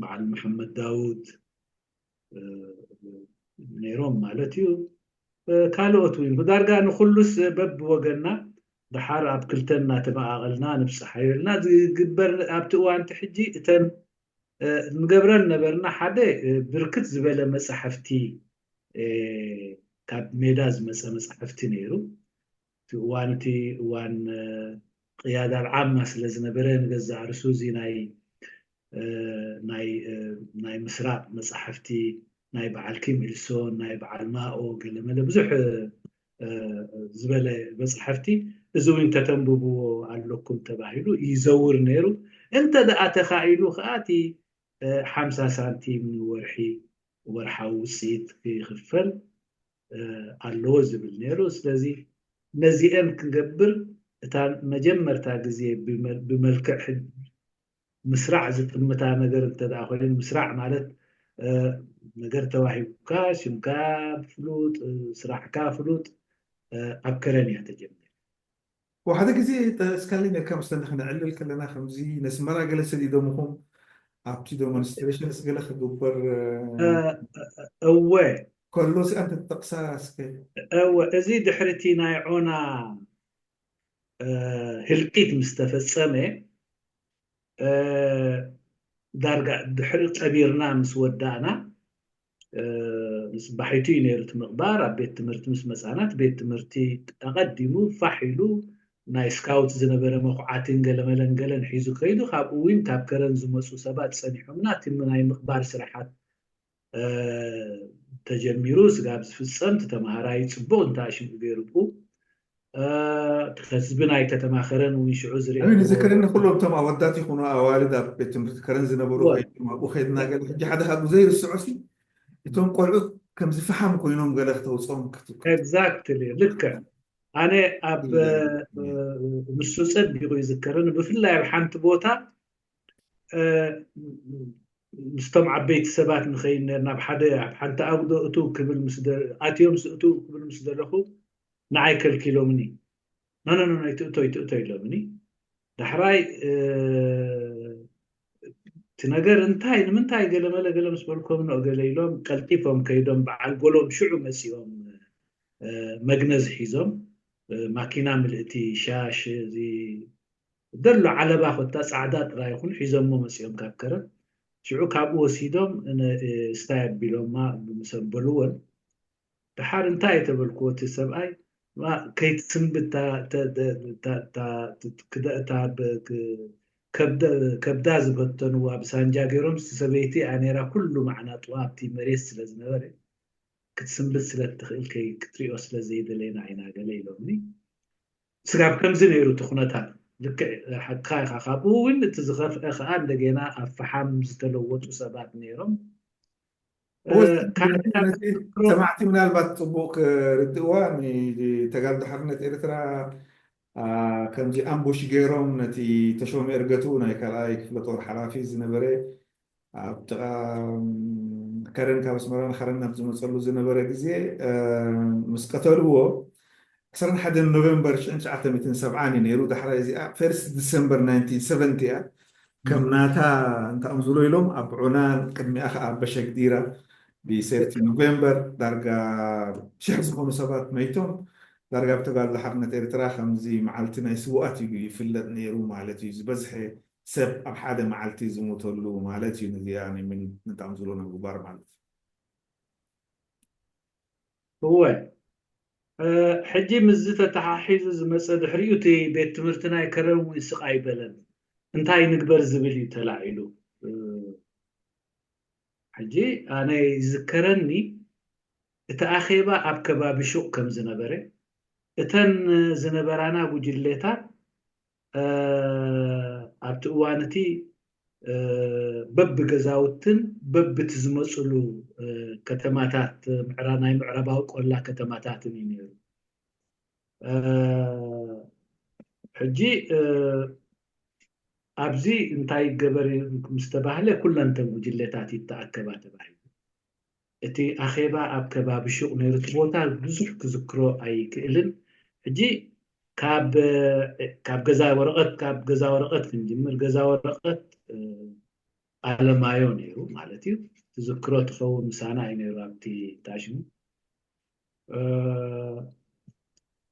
በዓል መሓመድ ዳውድ ነይሮም ማለት እዩ ካልኦት እውን ብዳርጋ ንኩሉስ በብወገና ድሓር ኣብ ክልተ እናተመቓቐልና ንብፅሓዮ ኢልና ዝግበር ኣብቲ እዋን እቲ ሕጂ እተን ንገብረን ነበርና ሓደ ብርክት ዝበለ መፃሕፍቲ ካብ ሜዳ ዝመፀ መፃሕፍቲ ነይሩ እቲ እዋን እቲ እዋን ቕያዳ ኣልዓማ ስለ ዝነበረ ንገዛእ ርእሱ እዚ ናይ ናይ ናይ ምስራቕ መጻሕፍቲ ናይ በዓል ኪም ኢልሶን ናይ በዓል ማኦ ገለመለ ብዙሕ ዝበለ መጻሕፍቲ እዚ እውን ከተንብብዎ ኣለኩም ተባሂሉ ይዘውር ነይሩ እንተ ደኣ ተኻኢሉ ከኣ እቲ ሓምሳ ሳንቲም ንወርሒ ወርሓዊ ውጽኢት ክኽፈል ኣለዎ ዝብል ነይሩ። ስለዚ ነዚኤን ክንገብር እታ መጀመርታ ግዜ ብመልክዕ ሕጊ ምስራዕ ዝጥምታ ነገር እንተ ኮይኑ፣ ምስራዕ ማለት ነገር ተዋሂቡካ፣ ሽምካ ፍሉጥ፣ ስራሕካ ፍሉጥ፣ ኣብ ከረን እያ ተጀሚራ። ወሓደ
ግዜ እስካለኝ ነካ ምስታ ንክነዕልል ከለና ከምዚ ነስመራ ገለ ሰዲዶምኹም ኣብቲ ደሞንስትረሽንስ ገለ ክግበር እወ
ከሎ ስኣ
እንተትጠቅሳ እስከ እወ እዚ
ድሕሪ እቲ ናይ ዖና ህልቂት ምስ ተፈጸመ ዳርጋ ድሕሪ ቀቢርና ምስ ወዳእና ጽባሒቱ እዩ ነይሩ እቲ ምቕባር። ኣብ ቤት ትምህርቲ ምስ መጻና እቲ ቤት ትምህርቲ ኣቐዲሙ ፋሕ ኢሉ ናይ ስካውት ዝነበረ መኹዓቲን ገለመለን ገለን ሒዙ ከይዱ። ካብኡ ዊን ካብ ከረን ዝመጹ ሰባት ጸኒሖምና። እቲ ናይ ምቕባር ስራሓት ተጀሚሩ ስጋብ ዝፍጸም እቲ ተማሃራይ ጽቡቕ እንተ ኣሽምኡ ገይሩ ብኡ ከስቢ ናይ ከተማ ከረን እውን ሽዑ ዝርኤ ኣነ ዝክርን ንኩሎም
እቶም
ኣወዳት
ይኹኑ ኣዋልድ ኣብ ቤት ትምህርቲ ከረን ዝነበሩ ከይዶም ኣብኡ ከድና ገለ ሕጂ ሓደ ካብኡ ዘይርስዖሲ እቶም ቆልዑት ከምዚ ፈሓም ኮይኖም ገለ ክተውፅኦም ኤግዛክትሊ
ልክዕ ኣነ ኣብ ንሱ ፀቢቑ ይዝከርን ብፍላይ ኣብ ሓንቲ ቦታ ምስቶም ዓበይቲ ሰባት ንኸይድ ነርና ኣብ ሓደ ኣብ ሓንቲ ኣጉዶ እትው ክብል ኣትዮም እትው ክብል ምስ ዘለኹ ንዓይ ከልኪሎምኒ ኖኖኖኖ ኣይትእቶ ኣይትእቶ ኢሎምኒ ዳሕራይ እቲ ነገር እንታይ ንምንታይ ገለመለ ገለ ምስ በልኮም ኖ ገለ ኢሎም ቀልጢፎም ከይዶም በዓል ጎሎም ሽዑ መፂኦም መግነዝ ሒዞም ማኪና ምልእቲ ሻሽ እዚ ደሎ ዓለባ ኮታ ፃዕዳ ጥራይ ይኹን ሒዞሞ መፂኦም ካብ ከረን ሽዑ ካብኡ ወሲዶም ስታይ ኣቢሎማ ምስ ኣበልወን ደሓር እንታይ እየ ተበልክዎ እቲ ሰብኣይ ከይትስንብድ እታ ከብዳ ዝበተንዋ ብሳንጃ ገይሮም እቲ ሰበይቲ እያ ነይራ ኩሉ ማዕናጥዋ ኣብቲ መሬት ስለ ዝነበረ ክትስንብድ ስለ እትኽእል ክትሪኦ ስለ ዘይደለና ኢና ገለ ኢሎምኒ ስጋብ ከምዚ ነይሩ እቲ ኩነታት ልክዕ ሓቅኻ ኢኻ ካብኡ እውን እቲ ዝኸፍአ ከዓ እንደገና ኣብ ፈሓም ዝተለወጡ ሰባት ነይሮም ሰማዕቲ
ምናልባት ፅቡቅ ክርድእዋ ተጋልዶ ሓርነት ኤርትራ ከምዚ ኣምቡሽ ገይሮም ነቲ ተሾመ እርገቱ ናይ ካልኣይ ክፍለ ጦር ሓላፊ ዝነበረ ኣብ ጥቃ ከረን ካብ ኣስመራ ንከረን ናብ ዝመፀሉ ዝነበረ ግዜ ምስ ቀተልዎ ዕስራን ሓደን ኖቨምበር ሽሕን ትሽዓተ ሚእትን ሰብዓን እዩ ነይሩ፣ ዳሕራይ እዚኣ ፈርስት ዲሰምበር ናይንቲን ሰቨንቲ እያ። ከም ናታ እንተኣምዝሎ ኢሎም ኣብ ዑናን ቅድሚኣ ከኣ ኣብ በሸግዲራ ብ ሰርቲ ኖቨምበር ዳርጋ ሽሕ ዝኾኑ ሰባት መይቶም። ዳርጋ ብ ተጋድሎ ሓርነት ኤርትራ ከምዚ መዓልቲ ናይ ስውኣት እዩ ይፍለጥ ነይሩ ማለት እዩ፣ ዝበዝሐ ሰብ ኣብ ሓደ መዓልቲ ዝሞተሉ ማለት እዩ፣ ነዚኣ ንጣምዝሎ ንምግባር ማለት እዩ።
እወ ሕጂ ምስዚ ተተሓሒዙ ዝመጸ ድሕሪኡ እቲ ቤት ትምህርቲ ናይ ከረን ውን ስቕ ኣይበለን እንታይ ንግበር ዝብል እዩ ተላዒሉ ሕጂ ኣነ ይዝከረኒ እቲ ኣኼባ ኣብ ከባቢ ሹቕ ከም ዝነበረ እተን ዝነበራና ጉጅሌታት ኣብቲ እዋን እቲ በብገዛውትን በብቲ ዝመጹሉ ከተማታት ናይ ምዕራባዊ ቆላ ከተማታትን እዩ ነይሩ። ሕጂ ኣብዚ እንታይ ይገበር ምስ ተባህለ ኩለን እተን ጉጅለታት ይተኣከባ ተባሂሉ። እቲ ኣኼባ ኣብ ከባቢ ሹቕ ነይሩ እቲ ቦታ ብዙሕ ክዝክሮ ኣይክእልን ሕጂ ካብ ካብ ገዛ ወረቐት ካብ ገዛ ወረቐት ክንጅምር ገዛ ወረቐት ኣለማዮ ነይሩ ማለት እዩ ትዝክሮ ትኸውን ምሳና እዩ ነይሩ ኣብቲ ታሽሙ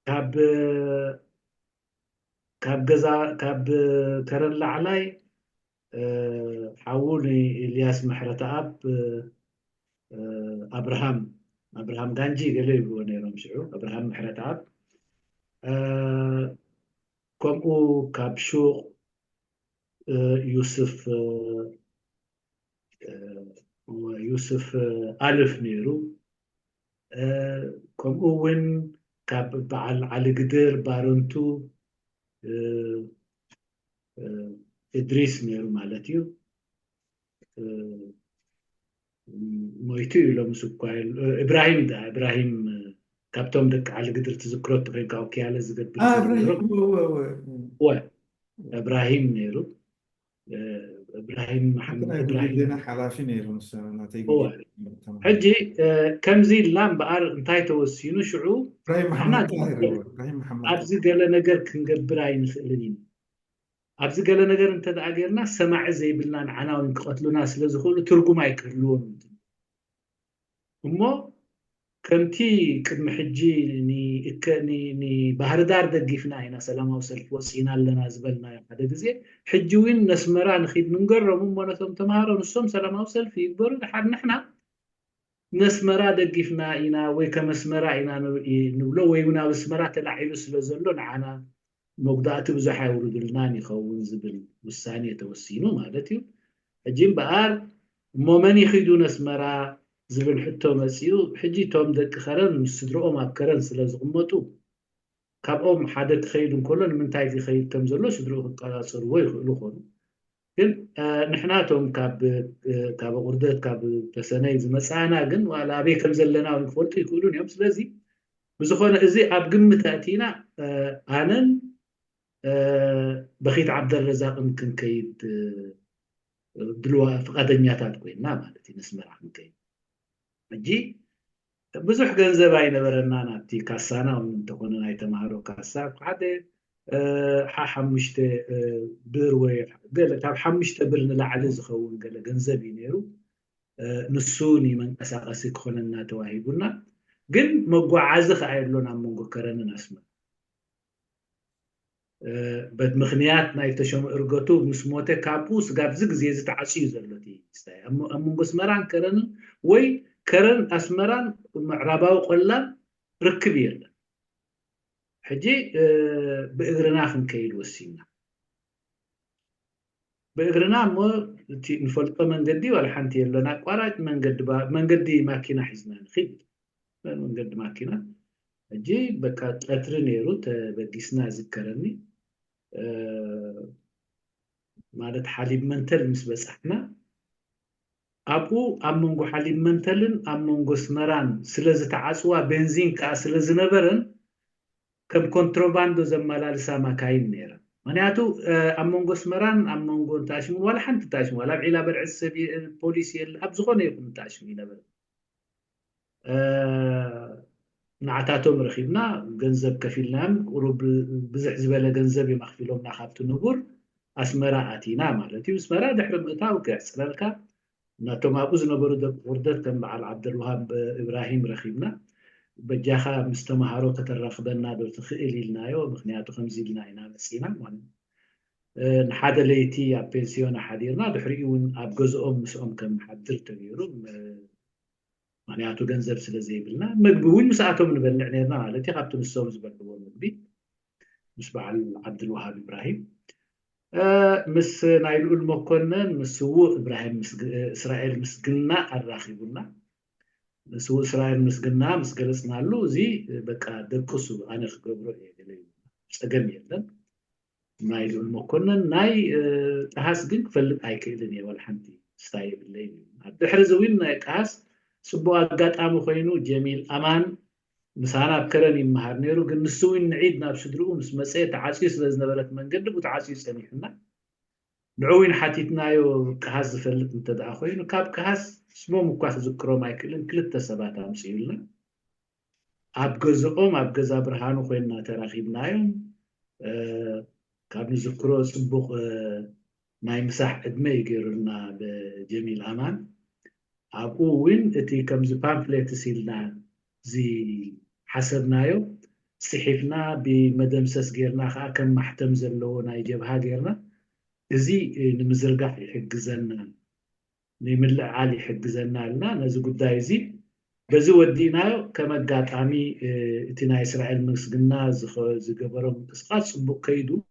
ካብ ካብ ገዛ ካብ ከረን ላዕላይ ሓዉ ንኢልያስ ምሕረተኣብ ኣብርሃም ኣብርሃም ጋንጂ ገለ ይብልዎ ነይሮም ሽዑ ኣብርሃም ምሕረተኣብ ከምኡ ካብ ሹቕ ዩስፍ ዩስፍ ኣልፍ ነይሩ ከምኡ እውን ካብ በዓል ዓሊ ግድር ባረንቱ እድሪስ ነይሩ ማለት እዩ ሞይቱ እዩ ሎምስ እኳ እብራሂም ዳ እብራሂም ካብቶም ደቂ ዓሊ ግድር ትዝክሮ እትኮይንካ ወኪያለ ዝገብር እብራሂም ነይሩ እብራሂም መሓመድ ናይ እብራሂም ጉልሌና ሓላፊ
ነይሩ ንሱ ናተይ እወ።
ጉልሌና ተማሂሩ። ሕጂ እ፣ ከምዚ ኢልና እምበኣር እንታይ ተወሲኑ ሽዑ እብራሂም ንሕና መሓመድ
ጣሂር እወ፣ እብራሂም መሓመድ ጣሂር። ኣብዚ ገለ ነገር
ክንገብር ኣይንኽእልን ኢና ኣብዚ ገለ ነገር እንተ ደኣ ጌርና ሰማዒ ዘይብልናን ዓናዊን ክቐትሉና ስለ ዝኽእሉ ትርጉም ኣይክህልዎን እዩ ትብል። እሞ ከምቲ ቅድሚ ሕጂ ንባህርዳር ደጊፍና ኢና ሰላማዊ ሰልፊ ወጺእና ኣለና ዝበልናዮ ሓደ ግዜ ሕጂ ውን ነስመራ ንኪድ ንንገሮም እሞ ነቶም ተማሃሮ ንሶም ሰላማዊ ሰልፊ ይግበሩ ድሓር ንሕና ነስመራ ደጊፍና ኢና ወይ ከም ኣስመራ ኢና ንብሎ ወይ ውን ኣብ ኣስመራ ተላዒሉ ስለ ዘሎ ንዓና መጉዳእቲ ብዙሕ ኣይውርዱልናን ይኸውን ዝብል ውሳኔ ተወሲኑ ማለት እዩ። ሕጂ እምበኣር እሞ መን ይኺዱ ነስመራ ዝብል ሕቶ መጺኡ። ሕጂ እቶም ደቂ ከረን ምስ ስድርኦም ኣብ ከረን ስለ ዝቕመጡ፣ ካብኦም ሓደ ክኸይድ እንከሎ ንምንታይ ዘይኸይድ ከም ዘሎ ስድርኡ ክቀጻጸርዎ ይኽእሉ ኮኑ። ግን ንሕና እቶም ካብ ኣቑርደት ካብ ተሰነይ ዝመጻእና ግን ዋላ ኣበይ ከም ዘለና እውን ክፈልጡ ኣይክእሉን እዮም። ስለዚ ብዝኾነ እዚ ኣብ ግምት ኣእቲና ኣነን በኺት ዓብደልረዛቕን ክንከይድ ድልዋ ፍቓደኛታት ኮይና ማለት እዩ ነስመራ ክንከይድ ሕጂ ብዙሕ ገንዘብ ኣይነበረናን ኣብቲ ካሳና ውን እንተኾነ ናይ ተማሃሮ ካሳ እብ ሓደ ሓ ሓሙሽተ ብር ወይ ገለ ካብ ሓሙሽተ ብር ንላዕሊ ዝኸውን ገለ ገንዘብ እዩ ነይሩ ንሱ ንመንቀሳቐሲ ክኾነና ተዋሂቡና ግን መጓዓዚ ከኣ የሎን ኣብ መንጎ ከረንን ኣስመራ በምኽንያት ናይ ተሾመ እርገቱ ምስ ሞተ ካብኡ ስጋብ እዚ ግዜ እዚ ተዓጽዩ እዩ ዘሎ እቲ ስታይ ኣብ መንጎ ኣስመራን ከረንን ወይ ከረን ኣስመራን ምዕራባዊ ቆላን ርክብ የለን ሕጂ ብእግርና ክንከይድ ወሲንና። ብእግርና እሞ እቲ እንፈልጦ መንገዲ ዋላ ሓንቲ የለን ኣቋራጭ መንገዲ መንገዲ ማኪና ሒዝና ንኺድ መንገዲ ማኪና ሕጂ በቃ ቀትሪ ነይሩ ተበጊስና ይዝከረኒ ማለት ሓሊብ መንተል ምስ በጻሕና ኣብኡ ኣብ መንጎ ሓሊብ መንተልን ኣብ መንጎ ኣስመራን ስለ ዝተዓጽዋ ቤንዚን ከኣ ስለ ዝነበረን ከም ኮንትሮባንዶ ዘመላልሳ ማካይን ነይረን። ምኽንያቱ ኣብ መንጎ ኣስመራን ኣብ መንጎ እንተ ኣሽሙን ዋላ ሓንቲ እንተ ኣሽሙ ዋላ ኣብ ዒላ በርዕሲ ሰብ ፖሊስ የለ ኣብ ዝኾነ ይኹን እንተ ኣሽሙ ኣይነበረን። ንዓታቶም ረኪብና ገንዘብ ከፊልናዮም ቁሩብ ብዝሕ ዝበለ ገንዘብ እዮም ኣክፊሎምና ካብቲ ንቡር ኣስመራ ኣቲና ማለት እዩ ኣስመራ ድሕሪ ምእታው ከሕጽረልካ ናቶም ኣብኡ ዝነበሩ ደቂ ኩርደት ከም በዓል ዓብደልውሃብ ኢብራሂም ረኪብና በጃካ ምስ ተማሃሮ ከተራክበና ዶ ትክእል ኢልናዮ ምክንያቱ ከምዚ ኢልና ኢና መጺና ማለት ንሓደ ለይቲ ኣብ ፔንስዮና ሓዲርና ድሕሪኡ እውን ኣብ ገዝኦም ምስኦም ከምሓድር ተገይሩ ምክንያቱ ገንዘብ ስለ ዘይብልና መግቢ እውን ምስኣቶም ንበልዕ ነርና ማለት እዩ ካብቲ ንሶም ዝበልዕዎ መግቢ ምስ በዓል ዓብድልወሃብ ኢብራሂም ምስ ናይ ልኡል መኮነን ምስ ስዉእ እብራሂም እስራኤል ምስግና ኣራኺቡና ንስውእ እስራኤል ምስግና ምስ ገለፅናሉ እዚ በቃ ደቅሱ ኣነ ክገብሮ እየ ገለ ጸገም የለን ናይ ልኡል መኮነን ናይ ጠሃስ ግን ክፈልጥ ኣይክእልን እየ ዋላ ሓንቲ ስታይ የብለይን እዩ ኣብ ድሕሪ እዚ እውን ናይ ጠሃስ ጽቡቅ ኣጋጣሚ ኮይኑ ጀሚል ኣማን ምሳና ኣብ ከረን ይመሃር ነይሩ ግን ንሱ እውን ንዒድ ናብ ስድርኡ ምስ መጸ ተዓጽዩ ስለ ዝነበረት መንገዲ ቡ ተዓጽዩ ጸኒሑና ንዑ እውን ሓቲትናዮ ቀሃስ ዝፈልጥ እንተደኣ ኮይኑ ካብ ቀሃስ ስሞም እኳ ክዝክሮም ኣይክእልን ክልተ ሰባት ኣምጽኡልና ኣብ ገዝኦም ኣብ ገዛ ብርሃኑ ኮይንና ተራኺብናዮም ካብ ንዝክሮ ጽቡቅ ናይ ምሳሕ ዕድመ እዩ ገይሩልና ብ ጀሚል ኣማን ኣብኡ ውን እቲ ከምዚ ፓምፍሌትስ ኢልና ዝሓሰብናዮ ጽሒፍና ብ መደምሰስ ገይርና ከኣ ከም ማሕተም ዘለዎ ናይ ጀብሃ ገይርና እዚ ንምዝርጋሕ ይሕግዘና ንምልዕዓል ይሕግዘና እልና ነዚ ጉዳይ እዚ በዚ ወዲእናዮ ከም ኣጋጣሚ እቲ ናይ እስራኤል ምስግና ዝገበሮ ምንቅስቃስ ጽቡቅ ከይዱ